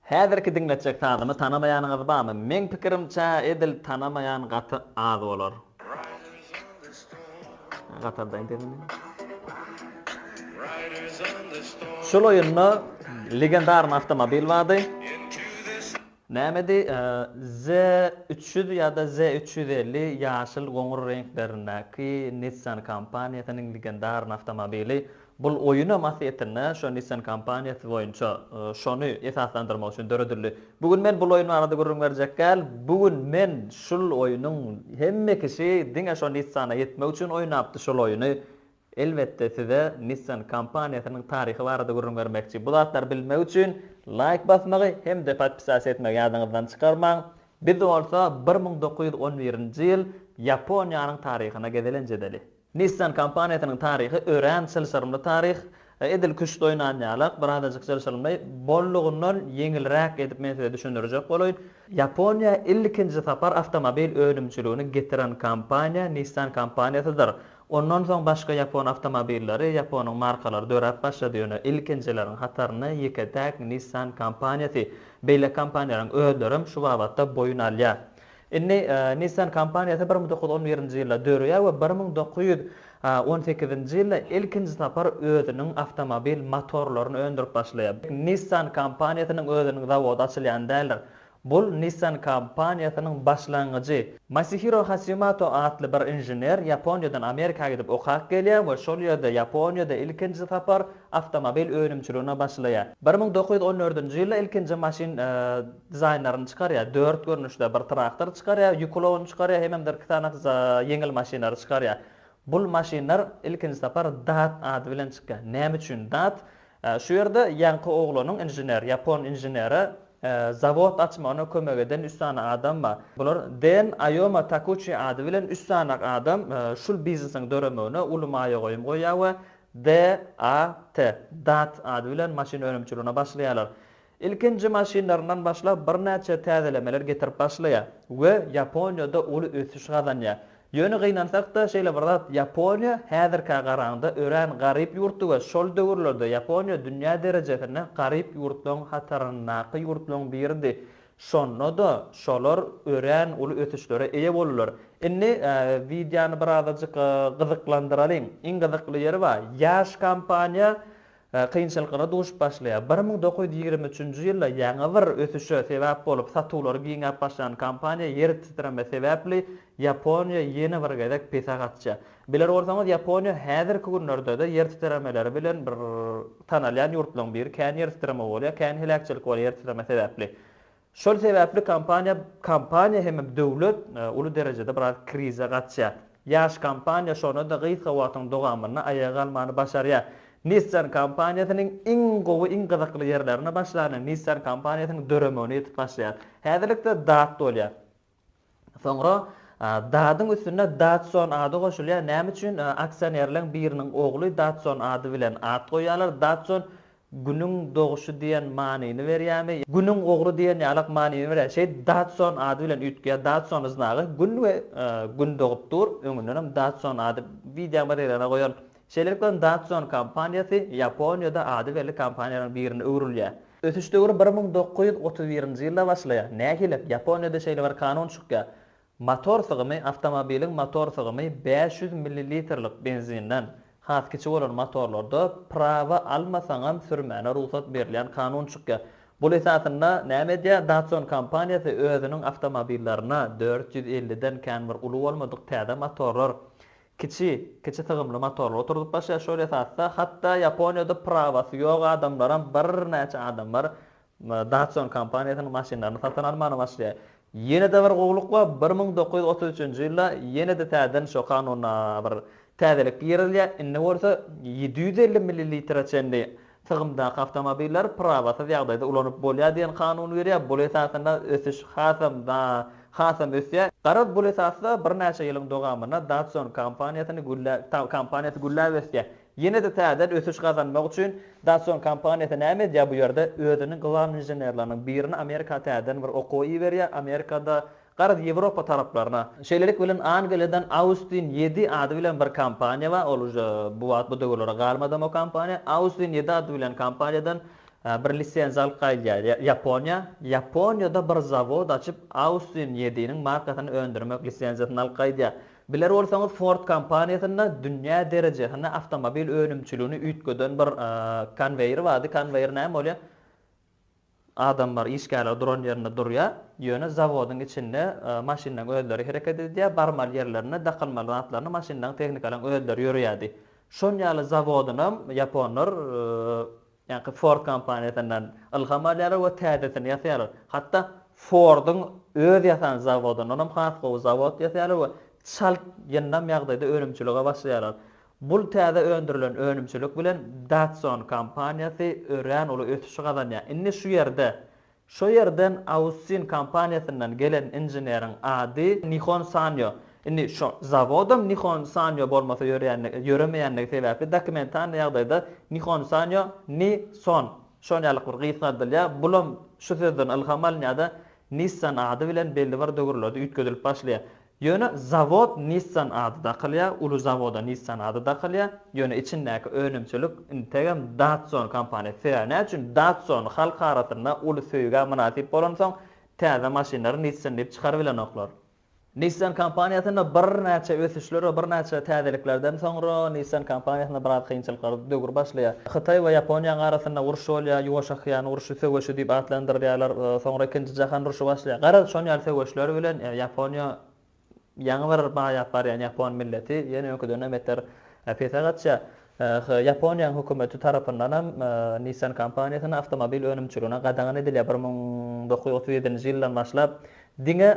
Häzirki diňletjek sazymy tanamaýanyňyz barmy? Meň pikirimçe edil tanamaýan gaty az bolar. Şul oýunda legendarny awtomobil bardy. Nämedi? Z üç ýüz ýa-da Z üç ýüz elli ýaşyl-goňur reňklerindäki Nissan kompaniýasynyň legendarny awtomobili. Bul oýunam aslyýetinde şo Nissan kompaniýasy boýunça şony esaslandyrmak üçin döredildi. Bu gün men bul oýun barada gürrüň berjekgäl, bu gün men şul oýunyň hemme kişi diňe şo Nissana ýetmek üçin oýnapdy şul oýuny. Elbetde size Nissan kompaniýasynyň taryhy barada gürrüň bermekçi. Bu zatlary bilmek üçin laýk basmagy hem-de podpisasiýa etmegi ýadyňyzdan çykarmaň. Biz bolsa bir müň dokuz ýüz on birinji ýyl Ýaponiýanyň taryhyna gezelenç edeli. Nissan kompaniýasynyň taryhy örän çylşyrymly taryh, edil küşt oýnan ýalak, birazajyk çylşyrymly, bollugyndan ýeňilräk edip men size düşündirjek bolaýyn. Ýaponiýa ilkinji sapar awtomobil önümçiligini getiren kompaniýa Nissan kompaniýasydyr. Ondan soň başga ýapon awtomobilleri, ýaponyň markalary döräp başlady, ýöne ilkinjileriň hatarynda ýeke-täk Nissan kompaniýasy. Beýleki kompaniýalaryň özlerem şu babatda boýun alýar. Indi Nissan kompaniýasy bir müň dokuz ýüz on birinji ýylda döreýär we bir müň dokuz ýüz on sekizinji ýylda ilkinji sapar özüniň awtomobil motorlaryny öndürip başlaýar. Nissan kompaniýasynyň özüniň zawody açylýan däldir. Bul Nissan kompaniýasynyň başlangyjy. Masihiro Hasymato atly bir inžener Ýaponiýadan Amerika gidip okap gelýär we şol ýerde Ýaponiýada ilkinji sapar awtomobil önümçiligine başlaýar. Bir müň dokuz ýüz on dördünji ýylda ilkinji maşyn. dizaýnlaryny çykarýar, dört görnüşde bir traktor çykarýar, ýük ulagyny çykarýar, hememdir iki sany ýeňil maşynlary çykarýar. Bul maşynlar ilkinji sapar DAT ady bilen çykýar. Näme üçin DAT? Şu ýerde ýaňky oglanyň inžener, ýapon inženeri zawod açmagyna kömek eden üç sany adam bar. Bular Den, Aýoma, Takuçi ady bilen üç sany adam şul biznesiň döremegine uly maýa goýum goýýar we DAT, DAT ady bilen maşyn önümçiligine başlaýarlar. Ilkinji maşynlaryndan başlap birnäçe täzelemeler getirip başlaýar we Ýaponiýada uly ösüş gazanýar. Ýöne gynansak-da şeýle bir zat, Ýaponiýa häzirkä garaňda örän garyp ýurtdy we şol döwürlerde Ýaponiýa dünýä derejesinde garyp ýurtlaryň hataryndaky ýurtlaryň biridi. Şonda-da şolar örän uly ösüşlere eýe boldular. Indi wideony birazajyk gyzyklandyralyň. Iň gyzykly ýeri bar. Ýaş kompaniýa kynçylyklara duşup başlaýar. Bir müň dokuz ýüz ýigrimi üçünji ýylda ýaňy bir ösüşe sebäp bolup, satuwlary giňäp başlan kompaniýa ýer titreme sebäpli Ýaponiýa ýene bir gezek pese gaçýar. Biler bolsaňyz, Ýaponiýa häzirki günlerde-de ýer titremeleri bilen bir tanalýan ýurtlaryň biri. Kän ýer titreme bolýar, kän heläkçilik bolýar ýer titreme sebäpli. Şol sebäpli kompaniýa kompaniýa hem-ä döwlet uly derejede biraz krize gaçýar. Ýaş kompaniýa şona-da gysga wagtyň dogamynda aýaga galmany başarýar. Nissan kompaniýasynyň iň gowy, iň gyzykly ýerlerine başlany Nissan kompaniýasynyň döremegine ýetip başlaýar. Häzirlikde dat bolýar. Soňra Dadyň üstüne Dadson ady goşulýar. Näme üçin aksionerleň biriniň ogly Dadson ady bilen at goýýarlar? Dadson Günüň doguşy diýen manyny berýärmi? Günüň ogry diýen ýalak manyny berýär. Şeýt Dadson ady bilen üýtgeýär. Dadson yznagy Gün we Gün dogup dur. Öňündenem Dadson ady wideomateriala goýan Şeýlelikde hem Datsun kompaniýasy Ýaponiýada ady belli kompaniýalaryň birine öwrülýär. Ösüş döwri bir müň dokuz ýüz otuz birinji ýylda başlaýar. Nähili? Ýaponiýada şeýle bir kanun çykýar, Motor sygymy, awtomobiliň motor sygymy bäş ýüz millilitrlik benzinden has kiçi bolan motorlarda prawa almasaňam sürmäne rugsat berilýän kanun çykýar. Bul esasynda näme edýär? Datsun kompaniýasy özüniň awtomobillaryna dört ýüz elliden kän bir uly bolmadyk täze motorlar Kiçi, kiçi sygymly motorly oturdyp başlaýar şol esasda, hatda Ýaponiýada prawasy ýok adamlaram birnäçe adam bar, Datsun kompaniýasynyň maşynlaryny satyn almana başlaýar. Ýene-de bir gowluk bar, bir müň dokuz ýüz otuz üçünji ýylda ýene-de täzeden şo kanuna bir täzelik girizilýär, indi bolsa ýedi ýüz elli millilitre çenli Çygymdaky awtomobiller prawasyz ýagdaýda ulanyp bolýar diýen kanun berýär. Bul esasynda ösüş hasam da hasam ösýär. Garaz bul esasda birnäçe ýylyň dogamynda Datsun kompaniýasyny güllä kompaniýasy gülläp ösýär. Ýene-de täzeden ösüş gazanmak üçin Datsun kompaniýasy näme edýär bu ýerde? Özüniň glawnyy inženerleriniň birini Amerika täzeden bir okuwa iberýär. Amerikada Garaz, Ýewropa taraplaryna. Şeýlelik bilen, Angliýadan Austin ýedi ady bilen bir kompaniýa bar, ol uje bu wagt bu döwürlere galmadam o kompaniýa. Austin ýedi ady bilen kompaniýadan bir lisenziýa alyp gaýdýar Ýaponiýa. Ýaponiýada bir zawod açyp, Austin ýediniň markasyny öndürmek lisenziýasyny alyp gaýdýar. Biler bolsaňyz, Ford kompaniýasynda dünýä derejesinde awtomobil önümçiligini üýtgeden bir konweýer bardy. Konweýer näme bolýar? Adam bar, işgärler duran ýerinde durýar. Ýöne zawodyň içinde maşynlaryň özleri hereket edýär, barmaly ýerlerine, dakylmaly zatlaryna maşynlaryň, tehnikalaryň özleri ýöreýärdi. Şon ýaly zawodynam ýaponlar ýaňky Ford kompaniýasyndan ylham alýarlar we täzesini ýasaýarlar. Hatda Forduň öz ýasan zawodyndanam has gowy zawod ýasaýarlar we çalt ýyndam ýagdaýda önümçilige başlaýarlar. Bul täze öndürilen önümçilik bilen Datsun kompaniýasy örän uly ösüşi gazanýar. Indi şu ýerde Şo ýerden Ausin kompaniýasyndan gelen inženeriň ady Nihon Sanyo. Indi şo zawodam Nihon Sanyo bolmasa ýörýändigi, ýöremeýändigi sebäpli dokumentalnyý ýagdaýda Nihon Sanyo, Ni Son, şon ýalyk bir gysgaldylýar. Bulam şu sözden ylham alynýar-da, Nissan ady bilen belli bir döwürlerde üýtgedilip başlaýar. Ýöne zawod Nissan ady dakylýar, uly zawoda Nissan ady dakylýar, ýöne içindäki önümçilik integem Datsun kompaniýasy. Sebäbi näme üçin? Datsun halk arasynda uly söýgä mynasyp bolansoň, täze maşynlary Nissan diýip çykarybilenoklar. Nissan kompaniýasynda birnäçe ösüşler we birnäçe täzeliklerden soňra Nissan kompaniýasynda biraz kynçylyklar döwür başlaýar. Hytaý we Ýaponiýanyň arasynda uruş bolýar, Ýuwaş okean urşy söweşi diýip atlandyrýarlar, soňra ikinji jahan urşy başlaýar. Garaz, şon ýaly söweşler bilen Ýaponiýa ýaňy bir maýap barýan ýapon milleti ýene öňküden-de beter pese gaçýar. He, Ýaponiýanyň hökümeti tarapyndan hem Nissan kompaniýasyna awtomobil önümçiligine gadagan edilýär. Bir müň dokuz ýüz otuz ýedinji ýyldan başlap diňe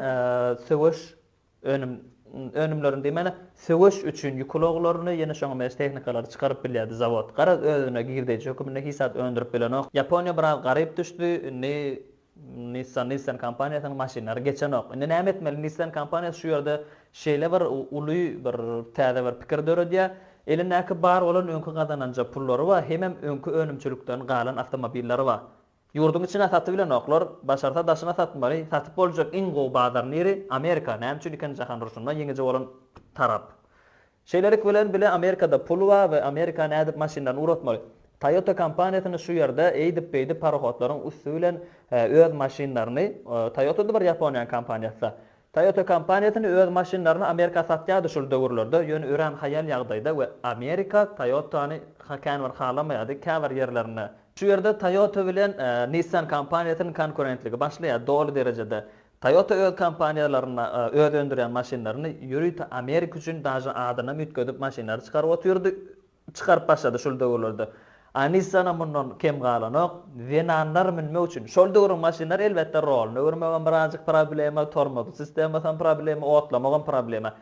söweş önüm önümlerini diýmäne, söweş üçin ýük ulaglaryny, ýene şoňa meňzeş tehnikalary çykaryp bilýärdi zawod. Garaz, özüne girdeýji höküminde hiç zat öndürip bilenok. Ýaponiýa biraz garyp düşdi. Indi Nissan Nissan kompaniýasynyň maşynlary geçenok. Indi näme etmeli? Nissan kompaniýasy şu ýerde şeýle bir uly bir täze bir pikir döredýär. Elindäki bar bolan öňki gazananja pullary bar, hemem öňki önümçilikden galan awtomobillary bar. Ýurduň içine satybilenoklar, başarsa daşyna satmaly. Satyp boljak iň gowy bazar niri? Amerika. Näme üçin eken jahan urşunda ýeňiji bolan tarap? Şeýlelik bilen bile Amerikada pul bar we Amerika nädip maşynlaryny ugratmaly? Toyota kompaniýasyny şu ýerde eýdip beýdip parohodlaryň üsti bilen öz maşynlaryny Toyota-da bir Ýaponiýanyň kompaniýasyda. Toyota kompaniýasyny öz maşynlaryny Amerika satýardy şol döwürlerde, ýöne örän haýal ýagdaýda we Amerika Toyota-ny känbir halamaýardy käbir ýerlerinde. Şu ýerde Toyota bilen Nissan kompaniýasynyň konkurentligi başlaýar doly derejede. Toyota öz kompaniýalaryny, öz öndürýän maşynlaryny ýörite Amerika üçin daže adynam üýtgedip maşynlary çykaryp otyrdy, çykaryp başlady şul döwürlerde. A Nissan-am mundan kem galanok, zenanlar münmek üçin, şol döwrüň maşynlary elbetde rolny öwürmegem birazjyk problema, tormozly sistemasam problema, otlamagam problema.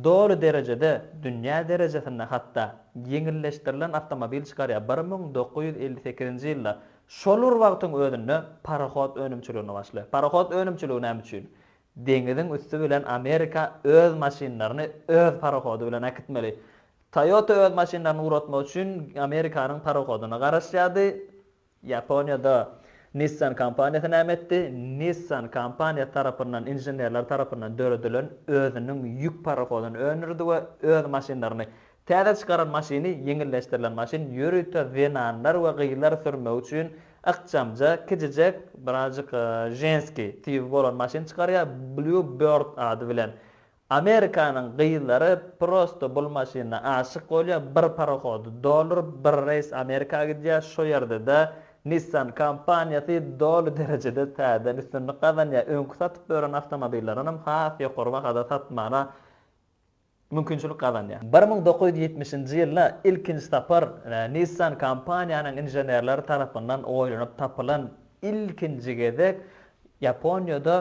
Doly derejede, dünýä derejesinde hatda, ýeňilleşdirilen awtomobil çykarýar, bir müň dokuz ýüz elli sekizinji ýylda Şol bir wagtyň özünde parohod önümçiligini başlaýar. Parohod önümçiligi näme üçin? Deňiziň üsti bilen Amerika öz maşynlaryny öz parohody bilen äkitmeli. Toyota öz maşynlaryny ugratmak üçin Amerikanyň parohodyna garaşýardy. Ýaponiýada Nissan kompaniýasy näme etdi? Nissan kompaniýasy tarapyndan, inženerler tarapyndan döredilen özüniň ýük parohodyny öndürdi we öz maşynlaryny Täze çykaran maşyny ýeňilleşdirilen maşyn ýörite zenanlar we gyzlar sürmegi üçin ykjamja, kiçijek, birazjyk ženskiý tibi bolan maşyn çykarýar, Blue Bird ady bilen. Amerikanyň gyzlary prosto bul maşyna aşyk bolýar, bir parohody dolduryp, bir reýs Amerika gidýär, şo ýerde-de Nissan kompaniýasy doly derejede täzeden üstünlik gazanýar, öňki satyp ýören awtomobillerinem has ýokary bahada satmana mümkinçilik gazanýar. Bir müň dokuz ýüz ýetmişinji ýylda ilkinji sapar Nissan kompaniýanyň inženerleri tarapyndan oýlanyp tapylan ilkinji gezek Ýaponiýada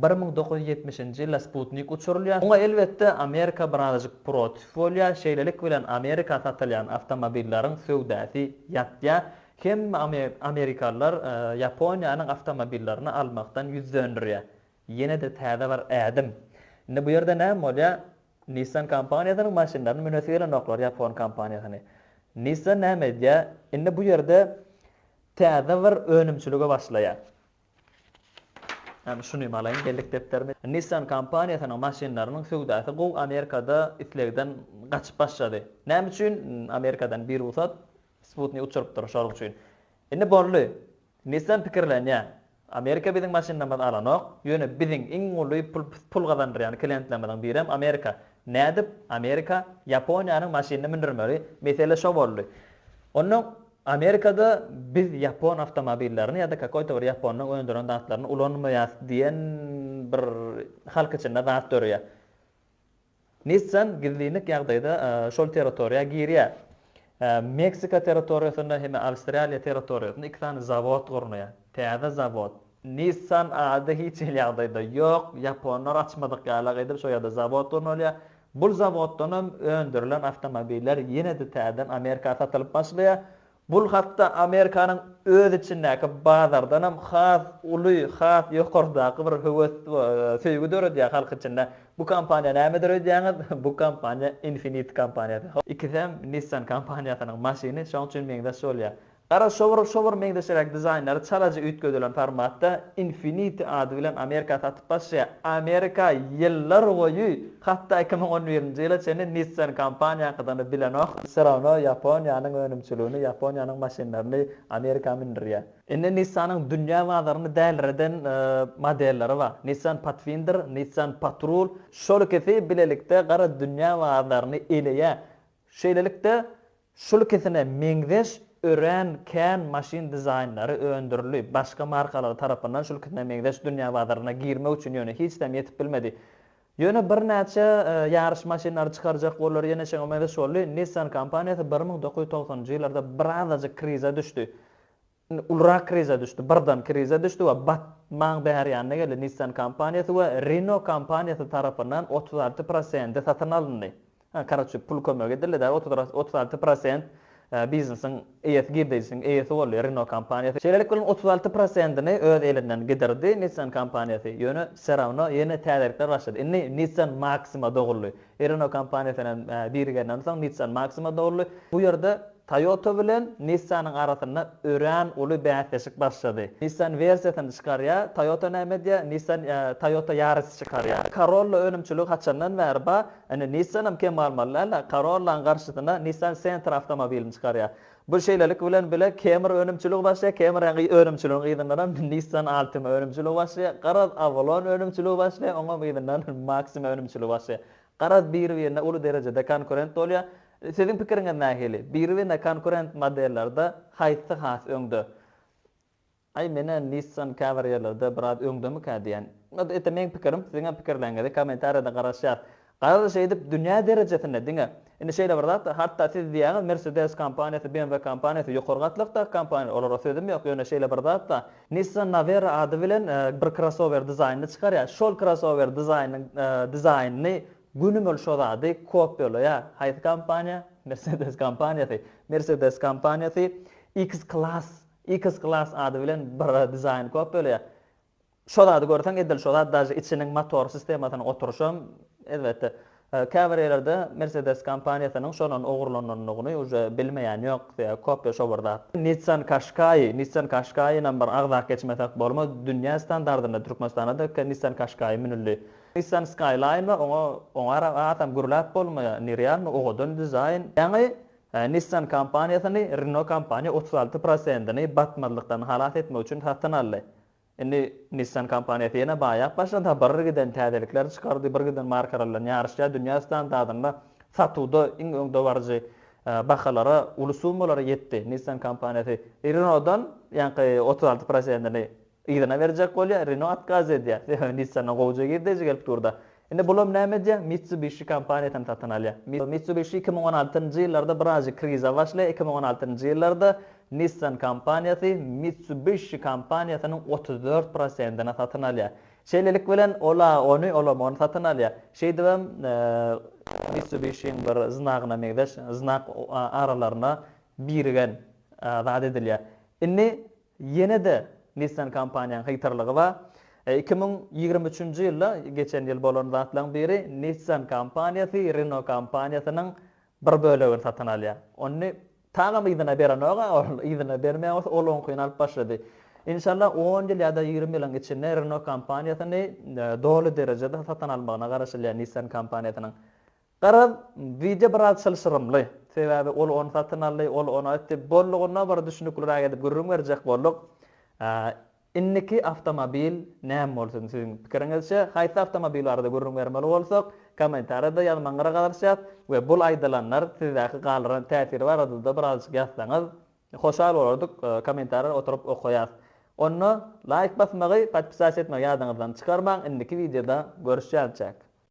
bir müň dokuz ýüz ýetmişinji ýylda Sputnik uçurylýar. Muňa elbetde Amerika birazajyk protiw bolýar, şeýlelik bilen Amerika satylýan awtomobilleriň söwdasy ýatýar. Hemme amerikalylar Ýaponiýanyň awtomobillerini almakdan ýüz dönderýär. Ýene-de täze bir ädim. Indi bu ýerde näme bolýar? Nissan kompaniýasynyň maşynlaryny münesi gelenoklar ýapon kompaniýasyny. Nissan näme edýär? Indi bu ýerde täze bir önümçilige başlaýar. Ýagny şuny alaýyn bellik depderimi. Nissan kompaniýasynyň maşynlarynyň söwdasy gowy Amerikada islegden gaçyp başlady. Näme üçin? Amerikadan birugsat sputnik uçurypdyr şonuň üçin. Indi boldy. Nissan pikirlenýär. Amerika biziň maşynymyzy alanok, ýöne biziň iň uly pul gazandyrýan klientlerimiziň birem Amerika. Nädip Amerika Ýaponiýanyň maşynyny mündürmeli, mesele şo boldy. Onda Amerikada biz ýapon awtomobillerini ýa-da kakoýta bir ýaponyň öndüren zatlaryny ulanmaýas diýen bir halk içinde zat döreýär. Nissan gizlinlik ýagdaýda şol territoriýa girýär. Meksika territoriýasynda hem-de Awstraliýa territoriýasynda iki sany zawod gurnaýar. Täze zawod. Nissan ady hiç hili ýagdaýda ýok, ýaponlar açmadyk ýalak edip şo ýerde zawod gurnalýar. Bu zawoddanam öndürilen awtomobiller ýene-de täzeden Amerika satylyp başlaýar. Bul hatda Amerikanyň öz içindäki bazardanam has uly, has ýokardaky bir höwes we söýgi döredýär halk içinde. Bu kompaniýa nämedir öýdýäňiz? Bu kompaniýa Infiniti kompaniýasy. Ikisem Nissan kompaniýasynyň maşyny, şoň üçin meňzeş bolýar. Gara şowur, şowur meňzeşiräk dizaýnlary çalajy üýtgedilen formatda Infiniti ady bilen Amerika satyn. Başga Amerika ýyllar boýy, hatda iki müň on birinji ýyla çenli Nissan kompaniýa hakydany bilenok, serawno Ýaponiýanyň önümçiligini, Ýaponiýanyň maşynlaryny Amerika mündürýär. Indi Nissanyň dünýä bazaryny dälireden modelleri bar. Nissan Pathfinder, Nissan Patrol, şol ikisi bilelikde gara dünýä bazaryny eleýär. Şeýlelikde, Şul ikisine meňzeş örän kän maşyn dizaýnlary öndürildi. Başga markalar tarapyndan şul ikisine meňzeş dünýä bazaryna girmek üçin ýöne hiç näme ýetip bilmedi. Ýöne birnäçe ýaryş maşynlary çykarjak boldular, ýene şoňa meňzeş boldy. Nissan kompaniýasy bir müň dokuz ýüz togsanynjy ýyllarda birazajyk krize düşdi. Indi ulurak krize düşdi, birdan krize düşdi we batmaň bäri ýanyna geldi. Nissan kompaniýasy we Renault kompaniýasy tarapyndan otuz alty prosente satyn alyndy. Ha, karoçi, pul kömek edildi-dä, otuz alty prosent biznesiň eýesi, girdeýjisiniň eýesi boldy Renault kompaniýasy. Şeýlelikde, onuň otuz alty prosentini öz elinden gidirdi Nissan kompaniýasy. Ýöne, serawno, ýene täzelikler başlady. Indi Nissan Maxima doguldy. Renault kompaniýasynyň birigerinden soň Nissan Maxima doldy. Bu ýerde Toyota bilen Nissan-yň arasynda örän uly bäsleşik başlady. Nissan wersiýasyny çykarýar, Toyota näme edýär? Nissan Toyota Yaris çykarýar. Corolla önümçiligi haçandan bäri bar, indi Nissan hem kem galmaly däl-de, Corolla-nyň garşysyna Nissan Sentra awtomobilini çykarýar. Bu şeýlelik bilen bile Kemr önümçiligi başlaýar, Kemr önümçiliginiň yzyndanam Nissan Altima önümçiligi başlaýar, garaz Avalon önümçiligi başlaýar, oňam yzyndan Maxima önümçiligi başlaýar. Garaz biri-birine uly derejede konkurent bolýar. Siziň pikiriňiz nähili? Biri-birine konkurent modellerde haýsy has öňde? Aý menä Nissan käbir ýerlerde biraz öňdemikä diýän. Ýa-da ete meň pikirim, siziňem pikirleriňizi kommentariýada garaşýas. Garaz şeýdip dünýä derejesinde diňe indi şeýle bir zat, hatda siz diýýäňiz Mercedes kompaniýasy, BMW kompaniýasy ýokary gatlakdaky kompaniýalar, olara sözüm ýok, ýöne şeýle bir zatda Nissan Navera ady bilen bir krossower dizaýnyny çykarýar, şol krossower dizaýnynyň dizaýnyny günü-mül şo zady kopýalaýar. Haýsy kompaniýa? Mercedes kompaniýasy. Mercedes kompaniýasy X-Class X-Class ady bilen bir dizaýn kop bölýär. Şo zady görseň edil şo zat daže içiniň motor sistemasynyň oturyşam elbetde käbir ýerlerde Mercedes kompaniýasynyň şondan ogurlanandygyny uje bilmeýän ýok sebäbi kopýa şo bir zat. Nissan Qashqai, Nissan Qashqainam bir agzak geçmesek bolmaz, dünýä standardynda Türkmenistanda da iki Nissan Qashqai münüldi. Nissan Skyline we oňa oňa ara atam gürläp bolmaýar, nerealny owadan dizaýn. Ýaňy Nissan kompaniýasyny Renault kompaniýa otuz alty prosentini batmazlykdan halas etmek üçin satyn aldy. Indi Nissan kompaniýasy ýene baýap başlady-ha, bir giden täzelikler çykardy, bir giden markalar bilen ýaryşýar, dünýä standartynda satuwda iň öňdebaryjy bahalara, uly summalara ýetdi. Nissan kompaniýasy Renault-dan ýaňky otuz alty prosentini Yzyna berjek bolýa, Renault otkaz edýä, sebäbi Nissan-a gowja girdeji gelip dur-da. Indi bulam näme edýä, Mitsubishi kompaniýasyny satyn alýa. Mitsubishi iki müň on altynjy ýyllarda birazjyk kriza başlaýa, iki müň on altynjy ýyllarda Nissan kompaniýasy Mitsubishi kompaniýasynyň otuz dört prosentini satyn alýa. Şeýlelik bilen ol-a ony, olam ony satyn alýa. Şeýdibem, Mitsubishiň bir znagyna meňzeş znak aralaryna birigen zat edilýä. Indi Ýene-de Nissan kompaniýanyň hytrlygy bar. Iki müň ýigrimi üçünji ýylda, geçen ýyl bolan zatlaryň biri, Nissan kompaniýasy Renault kompaniýasynyň bir bölegini satyn alýar. Ony tagam yzyna berenok-a ol, yzyna bermeýän bolsa, ol oňkyny alyp başlady. Inşallah on ýyl ýa-da ýigrimi ýylyň içinde Renault kompaniýasyny doly derejede satyn almagyna garaşylýar Nissan kompaniýasynyň. Garaz, wideo biraz çylşyrymly. Sebäbi ol ony satyn aldy, ol ony aýtdy. Boldugyndan bir düşnükliräk edip gürrüň berjek bolduk. Indiki awtomobil näme bolsun siziň pikiriňizçe? Haýsy awtomobil barada gürrüň bermeli bolsak, kommentariýada ýazmagyňyra garaşýas we bul aýdylanlar sizdäki galdyran täsiri barada-da birazajyk ýazsaňyz, hoşal bolardyk, kommentariýa oturyp okaýas. Onda laýk basmagy, podpisasiýa etmegi ýadyňyzdan çykarmaň, indiki wideoda görüşýänçäk.